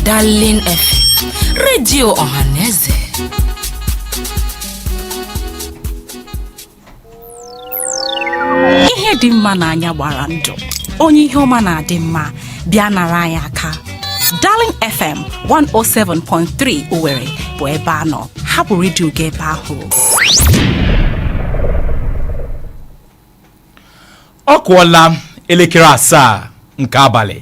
Darling FM redio ọhaneze ihe dị mma n'anya gbara ndụ onye ihe ọma na-adị mma bịa nara anyị aka Darling FM 107.3 Owerri bụ ebe a nọ hapụ redio gị ebe ahụ ọ kụọla elekere asaa nke abalị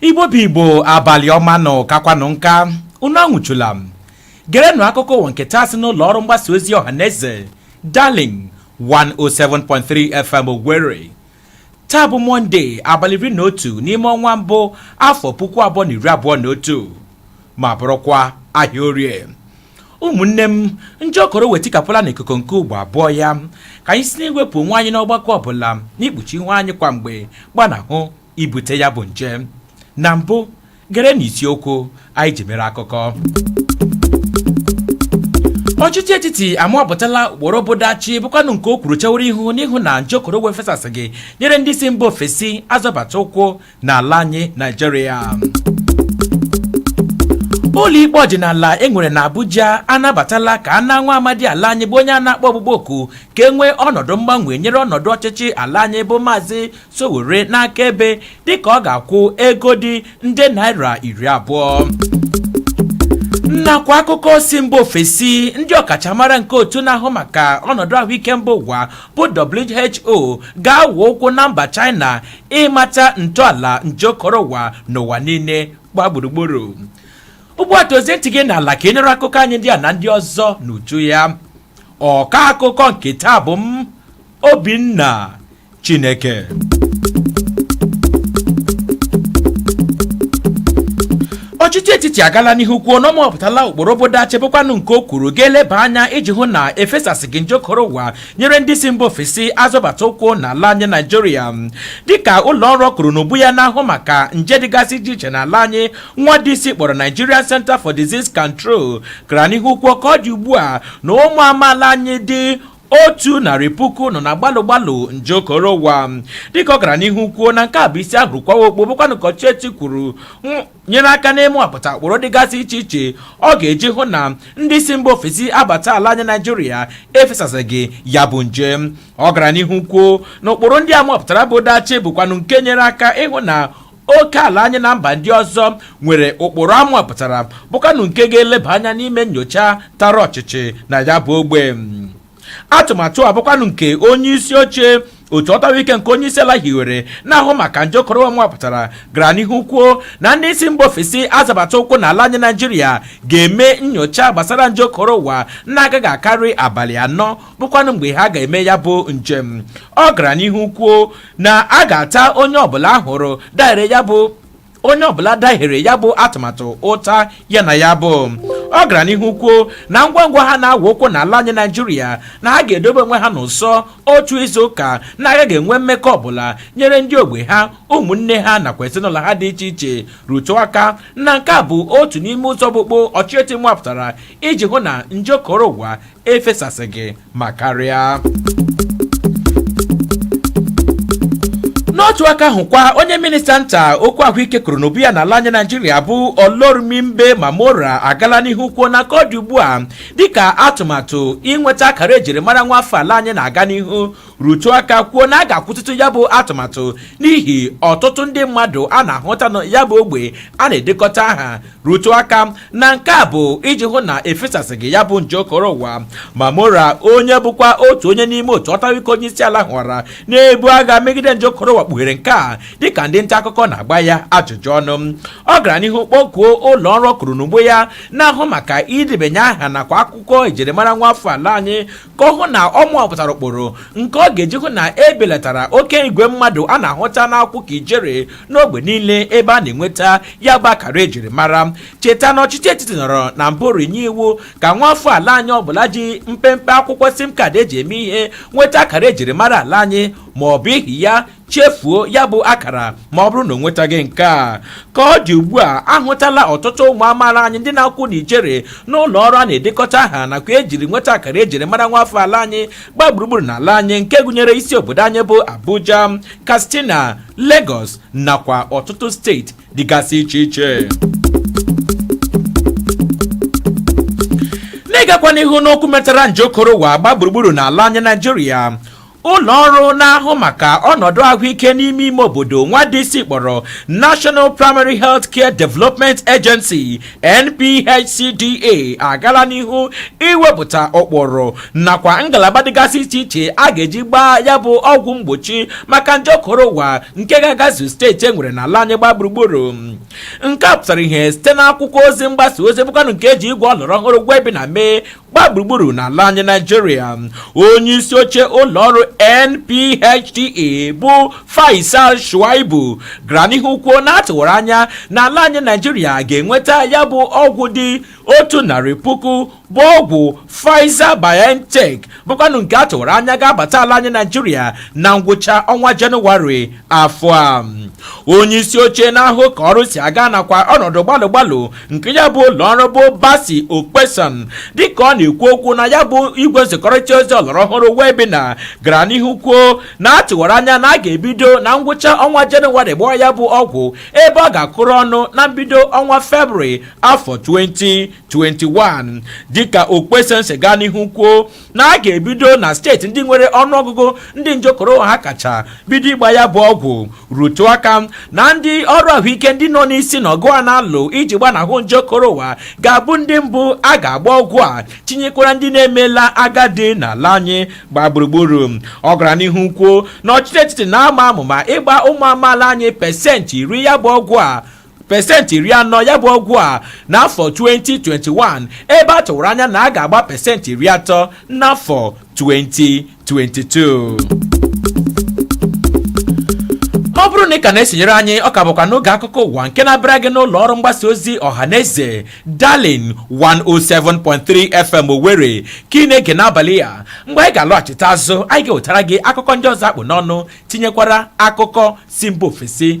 igbo bụ igbo abalị ọma nụ kakwanụ nka unu anwụchula m gerenụ akụkọ ụwa nke taa si n'ụlọ ọrụ mgbasa ozi ọha na eze darling 107.3 fm owerri taa bụ mọnde abalị iri na otu n'ime ọnwa mbụ afọ puku abụọ na iri abụọ na otu ma bụrụkwa ahịa orie ụmụnne m nje okoro ụwa etikapụla n'ikuku nke ugbo abụọ ya ka anyị si n'iwepụ onwe anyị n'ọgbakọ ọbụla n'ikpuchi ihu anyị kwa mgbe gbanahụ ibute ya bụ nje na mbụ gerenụ isiokwu anyị ji mere akụkọ ọchịchị etiti amụpụtala ụkpụrụ obodo achị bụkwanụ nke o kwuru chewara ihu n'ịhụ na nje okoro ụwa efesasịghị nyere ndị si mba ofesi azọbata ụkwụ n'ala anyị naijiria ụlọikpe ọdịnala e nwere na abuja anabatala ka a nara nwa amadi ala anyị bụ onye a na-akpọ ọkpụkpọ oku ka e nwee ọnọdụ mgbanwe nyere ọnọdụ ọchịchị ala anyị bụ maazị Sowore n'akaebe dịka ọ ga-akwụ ego dị nde naira iri abụọ nakwa akụkọ si mba ofesi ndị ọkachamara nke otu na-ahụ maka ọnọdụ ahụike mba ụwa bụ WHO ga-awụ ụkwụ na mba China ịmata ntọala nje okoro ụwa n'ụwa niile gba gburugburu ugbu a tọzie ntị gị n'ala ka ị nụrụ akụkọ anyị ndị a na ndị ọzọ n'uju ya ọka akụkọ nke taa bụ m Obinna Chineke ọchịchị etiti agala n'ihu kwuo na ọ mụpụtala ụkpụrụ obodo achị bụkwanụ nke o kwuru ga-eleba anya iji hụ na efesasịghị nje okoro ụwa nyere ndị si mba ofesi azọbata ụkwụ n'ala anyị naijiria dịka ụlọ ọrụ kwụrụ n'ubu ya na-ahụ maka nje dịgasị iche iche n'ala anyị nwa DC kpọrọ Nigerian Center for Disease Control gara n'ihu kwuo ka ọ dị ugbu a na ụmụ amaala anyị dị otu narị puku nọ na gbalụ gbalụ nje okoro ụwa dịka ọ gara n'ihu kwuo na nke a bụ isi a hụrụ kwawa okpu bụkwanụ ka ọchịchị etiti kwuru nyere aka n'ịmụpụta ụkpụrụ dịgasị iche iche ọ ga-eji hụ na ndị si mba ofesi abata ala anyị naijiria efesasịghị ya bụ nje ọ gara n'ihu kwuo na ụkpụrụ ndị a mụpụtara bụ dachi bụkwanụ nke nyere aka ịhụ na oke ala anyị na mba ndị ọzọ nwere ụkpụrụ a nwapụtara bụkwanụ nke ga-eleba anya n'ime nyocha tara ọchịchị na ya bụ ogbe atụmatụ a bụkwanụ nke onye isi oche otu ọtawa ike nke onye isi ala hiwere na-ahụ maka nje okoro ụwa nwapụtara gara n'ihu kwuo na ndị si mba ofesi azọbata ụkwụ n'ala anyị naijiria ga-eme nyocha gbasara nje okoro ụwa na-agaghị akarị abalị anọ bụkwanụ mgbe ha ga-eme ya bụ njem ọ gara n'ihu kwuo na a ga-ata onye ọbụla a hụrụ dahiere ya bụ onye ọbụla dahiere ya bụ atụmatụ ụta ya na ya bụ ọ gara n'ihu kwuo na ngwa ngwa ha na-awa ụkwụ n'ala anyị naijiria na ha ga-edobe onwe ha n'ụsọ otu izu ụka na-agaghị enwe mmekọ ọbụla nyere ndị ogbe ha ụmụnne ha nakwa ezinụlọ ha dị iche iche rụtụ aka na nke a bụ otu n'ime ụzọ ọkpụkpụ ọchịchị nwapụtara iji hụ na nje okoro ụwa efesasịghị ma karịa n'otu aka ahụkwa onye minista nta okwu ahụike kwuru n'ugbo ya n'ala anyị naijiria bụ olorunnimbe mamora agala n'ihu kwuo na ka ọ dị ugbu a dịka atụmatụ inweta akara ejirimara nwa afọ ala anyị na-aga n'ihu rụtụ aka kwuo na a ga-akwụsịtụ ya bụ atụmatụ n'ihi ọtụtụ ndị mmadụ a na-ahụta na ya bụ ogbe a na-edekọta aha rụtụ aka na nke a bụ iji hụ na efesasịghị ya bụ nje okoro ụwa mamora onye bụkwa otu onye n'ime otu ọtawa ike onye isi ala hiwere na-ebu agha megide nje okoro ụwa kpughere nke a dịka ndị nta akụkọ na-agba ya ajụjụ ọnụ ọ gara n'ihu kpọkuo ụlọ ọrụ kwuru n'ugbo ya na-ahụ maka idebanye aha nakwa akwụkwọ ejirimara nwa afọ ala anyị ka ọ hụ na ọ nwapụtara ụkpụrụ nke ọ ga-eji hụ na e belatara oke igwe mmadụ a na-ahụta na-akwụ ka ijere n'ogbe niile ebe a na-enweta ya bụ akara ejiri mara cheta na ọchịchị etiti nọrọ na mbụ tinye iwu ka nwa afọ ala anyị ọbụla ji mpempe akwụkwọ sim kaadị eji eme ihe nweta akara ejiri mara ala anyị ma ọ bụ ihi ya chefuo ya bụ akara ma ọ bụrụ na o nwetaghị nke a ka ọ dị ugbu a ahụtala ọtụtụ ụmụ amaala anyị ndị na-akwụ n'ijere n'ụlọ ọrụ a na-edekọta aha nakwa ejiri nweta akara ejiri mara nwa afọ ala anyị gbaa gburugburu n'ala anyị nke gụnyere isi obodo anyị bụ Abuja Katsina Lagos nakwa ọtụtụ steeti dịgasị iche iche n'ịgakwa n'ihu n'okwu metara nje okoro ụwa gbaa gburugburu n'ala anyị naijiria ụlọ ọrụ na-ahụ maka ọnọdụ ahụike n'ime ime obodo nwa DC kpọrọ National Primary Health Care Development Agency NPHCDA agala n'ihu iwepụta ụkpụrụ nakwa ngalaba dịgasị iche iche a ga-eji gbaa ya bụ ọgwụ mgbochi maka nje okoro ụwa nke ga-agazu steeti e nwere n'ala anyị gbaa gburugburu nke a pụtara ihe site n'akwụkwọ ozi mgbasa ozi bụkwanụ nke eji igwe ọlọrọ ọhụrụ webinar mee gbaa gburugburu n'ala anyị naijiria onye isi oche ụlọ ọrụ NPHDA bụ Faisal Shuaibu gara n'ihu kwuo na a tụwara anya na ala anyị naijiria ga-enweta ya bụ ọgwụ dị otu narị puku bụ ọgwụ Pfizer BioNTech bụkwanụ nke a tụwara anya ga-abata ala anyị naijiria na ngwụcha ọnwa jenụwarị afọ a onye isi oche na-ahụ ka ọrụ si aga nakwa ọnọdụ gbalụ gbalụ nke ya bụ ụlọ ọrụ bụ Bassey Okposen dịka ọ na-ekwu okwu na ya bụ igwe nzikọrịta ozi ọlọrọ ọhụrụ webinar gara n'ihu kwuo na a tụwara anya na a ga-ebido na ngwụcha ọnwa Jenụwarị gbawa ya bụ ọgwụ ebe ọ ga-akụrụ ọnụ na mbido ọnwa Febrụwarị afọ 2021 dịka Okposen si gaa n'ihu kwuo na a ga-ebido na steeti ndị nwere ọnụọgụgụ ndị nje korona ha kacha bido ịgba ya bụ ọgwụ rụtụ aka na ndị ọrụ ahụike ndị nọ n'isi na ọgụ a na-alụ iji gbanahụ nje korona ga-abụ ndị mbụ a ga-agba ọgwụ a tinyekwara ndị na-emela agadi n'ala anyị gbaa gburugburu ọ gara n'ihu kwuo na ọchịchị etiti na-ama amụma ịgba ụmụ amaala anyị pesentị iri ya bụ ọgwụ a pesentị iri anọ ya bụ ọgwụ a n'afọ 2021 ebe a tụwara anya na a ga-agba pesentị iri atọ n'afọ 2022 ọ bụrụ na ị ka na-esonyere anyị ọ ka bụkwa n'oge akụkọ ụwa nke na-abịara gị n'ụlọ ọrụ mgbasa ozi ọhaneze darling 107.3 fm owere ka ị na-ege n'abalị a mgbe anyị ga-alọghachite azụ anyị ga-ewetara gị akụkọ ndị ọzọ a kpụ n'ọnụ tinyekwara akụkọ si mba ofesi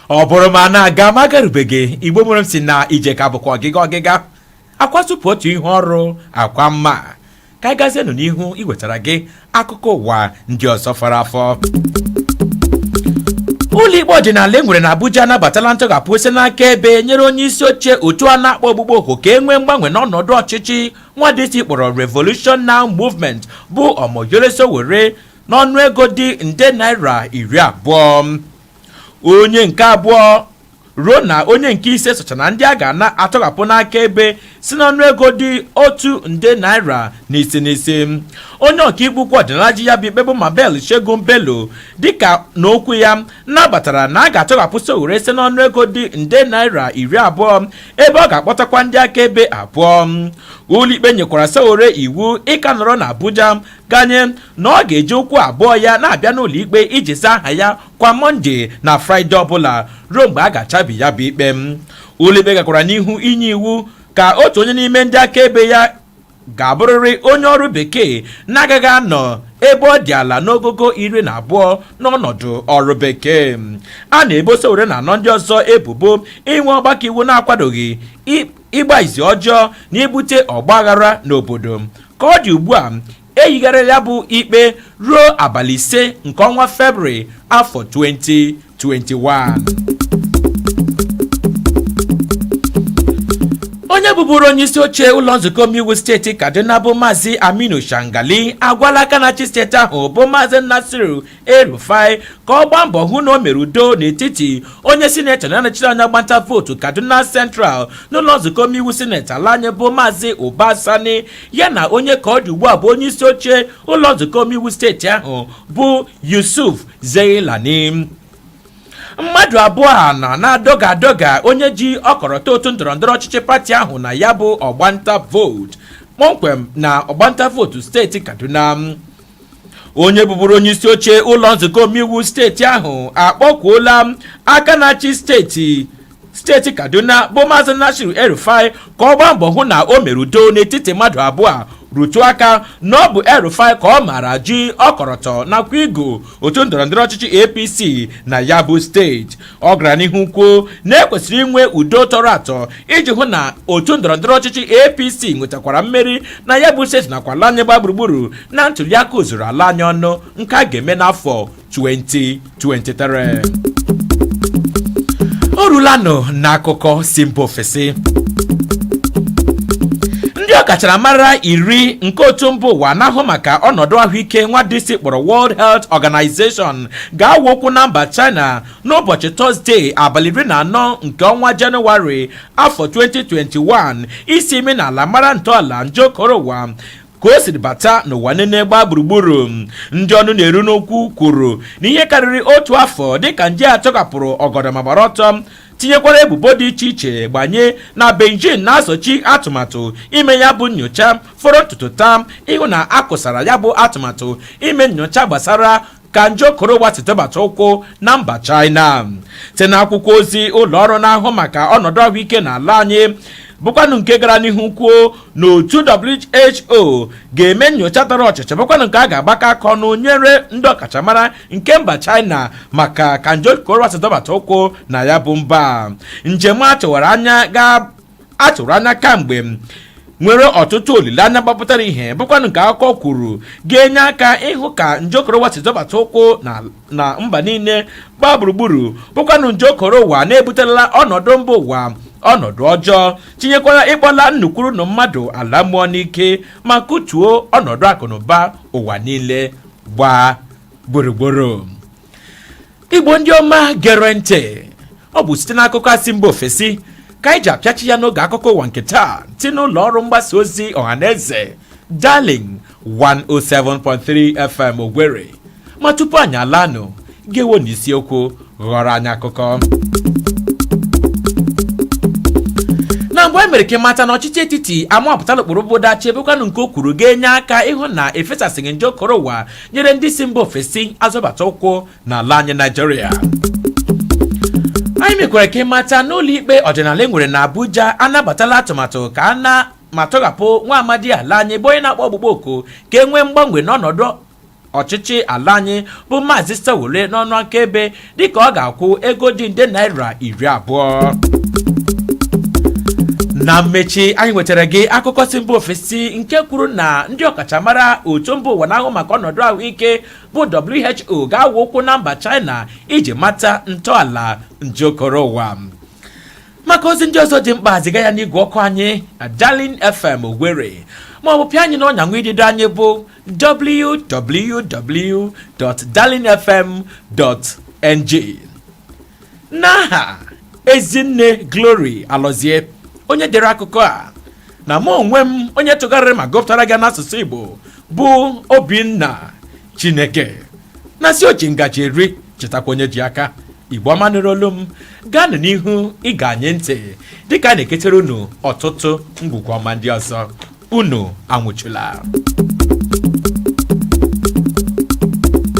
ọ bụrụ ma a na-aga ma agarubeghị igbo mụrụ m si na ije ka bụkwa ọgịga ọgịga akwa sụpụ otu ihu ọrụ akwa mma ka anyị gazienụ n'ihu iwetara gị akụkọ ụwa ndị ọzọ fọrọ afọ ụlọikpe ọdịnala e nwere na Abuja anabatala ntọghapụ si n'akaebe nyere onye isi oche otu a na-akpọ ọkpụkpọ oku ka e nwee mgbanwe n'ọnọdụ ọchịchị nwa dịsi kpọrọ Revolution Now Movement bụ Omoyele Sowore n'ọnụ ego dị nde naira iri abụọ onye nke abụọ ruo na onye nke ise socha na ndị a ga na-atọghapụ n'akaebe si n'ọnụ ego dị otu nde naira n'isi n'isi onye ọkaikpe ukwu ọdịnala ji ya bụ ikpe bụ Mabel Segun Bello dịka na okwu ya nabatara na a ga-atọghapụ Sowore si n'ọnụ ego dị nde naira iri abụọ ebe ọ ga-akpọtakwa ndị akaebe abụọ ụlọikpe nyekwara Sowore iwu ịka nọrọ na Abuja ganye na ọ ga-eji ụkwụ abụọ ya na-abịa n'ụlọ ikpe iji zaa aha ya kwa mọnde na fraịde ọbụla ruo mgbe a ga-achabi ya bụ ikpe ụlọikpe gakwara n'ihu inye iwu ka otu onye n'ime ndị akaebe ya ga-abụrịrị onye ọrụ bekee na-agaghị anọ ebe ọ dị ala n'ogogo iri na abụọ n'ọnọdụ ọrụ bekee a na-ebo Sowore na anọ ndị ọzọ ebubo inwe ọgbakọ iwu na-akwadoghị ịgba izu ọjọọ na ibute ọgbaghara n'obodo ka ọ dị ugbu a eyigharịla ya bụ ikpe ruo abalị ise nke ọnwa febrụwarị afọ 2021 onye bụburu onye isi oche ụlọ nzukọ omeiwu steeti kaduna bụ maazị aminu shangali agwala aka na-achị steeti ahụ bụ maazị nasiru El-Rufai ka ọ gbaa mbọ hụ na o mere udo n'etiti onye sinetọ na-anọchite anya ọgbanta vootu Kaduna Central n'ụlọ nzukọ omeiwu sineti ala anyị bụ Maazị Uba Sani ya na onye ka ọ dị ugbu a bụ onye isi oche ụlọ nzukọ omeiwu steeti ahụ bụ Yusuf Zailani mmadụ abụọ a nọ na-adọga adọga onye ji ọkọrọtọ otu ndọrọ ndọrọ ọchịchị pati ahụ na ya bụ ọgbanta vootu kpọmkwem na ọgbanta vootu steeti Kaduna onye bụburu onye isi oche ụlọ nzukọ omeiwu steeti ahụ akpọkwuola aka na-achị steeti steeti kaduna bụ maazị nasiru el-rufai ka ọ gbaa mbọ hụ na o mere udo n'etiti mmadụ abụọ a rụtụ aka na ọ bụ el-rufai ka ọ maara ji ọkọrọtọ nakwa igu otu ndọrọndọrọ ọchịchị apc na ya bụ steeti ọ gara n'ihu kwuo na ekwesịrị inwe udo tọrọ atọ iji hụ na otu ndọrọndọrọ ọchịchị apc nwetakwara mmeri na ya bụ steeti nakwa ala anyị gba gburugburu na ntụliaka ozuru ala anyị ọnụ nke a ga-eme n'afọ 2023 o rulanụ n'akụkọ si mba ofesi ndị ọkacharamara iri nke otu mba ụwa na-ahụ maka ọnọdụ ahụike nwa DC kpọrọ World Health Organization ga-awa ụkwụ na mba china n'ụbọchị tọzdee abalị iri na anọ nke ọnwa jenụwarị afọ 2021 isi imi n'ala mara ntọala nje korowa ka o siri bata n'ụwa niile gbaa gburugburu ndị ọnụ na-eru n'okwu kwuru na ihe karịrị otu afọ dịka nje a tọkapụrụ ọgọdọ ma gbara ọtọ tinyekwara ebubo dị iche iche gbanye na beijing na-azochi atụmatụ ime ya bụ nyocha fọrọ ntutu taa ịhụ na a kụsara ya bụ atụmatụ ime nyocha gbasara ka nje korowa si tụbata ụkwụ na mba China site n'akwụkwọ ozi ụlọ ọrụ na-ahụ maka ọnọdụ ahụike n'ala anyị bụkwanụ nke gara n'ihu kwuo na otu WHO ga-eme nyocha tara ọchịchị bụkwanụ nke a ga-agbakọ aka ọnụ nyere ndị ọkachamara nke mba China maka ka nje korowa si tụbata ụkwụ na ya bụ mba njem a tụwara anya a tụrụ anya kamgbe nwere ọtụtụ olileanya gbapụtara ihe bụkwanụ nke akụkọ kwuru ga-enye aka ịhụ ka nje korowa si zọbata ụkwụ na mba niile gbaa gburugburu bụkwanụ nje korowa na-ebutela ọnọdụ mba ụwa ọnọdụ ọjọọ tinyekwara ịkpọla nnu kwuru nnu mmadụ ala mmụọ n'ike ma kụtuo ọnọdụ akụnụba ụwa niile gbaa gburugburu igbo ndị ọma gere ntị ọ bụ site n'akụkọ asị mba ofesi ka anyị ji apịachi ya n'oge akụkọ ụwa nke taa si n'ụlọ ọrụ mgbasa ozi ọhaneze darling 107.3 fm owerri ma tupu anyị alaa nụ gewo na isiokwu ghọrọ anyị akụkọ na mbụ e mere ka ịmata na ọchịchị etiti amapụtala ụkpụrụ bụ dachi ebekwanụ nke o kwuru ga-enye aka ịhụ na efesasịghị nje okoro ụwa nyere ndị si mba ofesi azọbata ụkwụ n'ala anyị Naijiria anyị mekwara ka ịmata n'ụlọ ikpe ọdịnala e nwere na Abuja anabatala atụmatụ ka a na ma tọghapụ nwa amadi ala anyị bụ onye na-akpọ ọkpụkpọ oku ka e nwee mgbanwe n'ọnọdụ ọchịchị ala anyị bụ maazị Sowore n'ọnụ akaebe dịka ọ ga-akwụ ego dị nde naira iri abụọ na mmechi anyị nwetara gị akụkọ si mba ofesi nke kwuru na ndị ọkachamara otu mba ụwa na-ahụ maka ọnọdụ ahụike bụ WHO ga-awụ ụkwụ na mba China iji mata ntọala nje okoro ụwa maka ozi ndị ọzọ dị mkpa ziga ya n'igwe ọkụ anyị na Darling FM Owerri ma ọ bụ pịa anyị n'ọnya nwa idido anyị bụ www.darlingfm.ng n'aha ezinne Glory Alọzie onye dere akụkọ a na mụ onwe m onye tụgharịrị ma gụpụtara gị n'asụsụ Igbo bụ Obinna Chineke na-asị oji ngaji eri chetakwa onye ji aka igbo ọma nụrụ olu m gaanụ n'ihu ige anyị ntị dịka a na-eketere unu ọtụtụ ngwugwu ọma ndị ọzọ unu anwụchula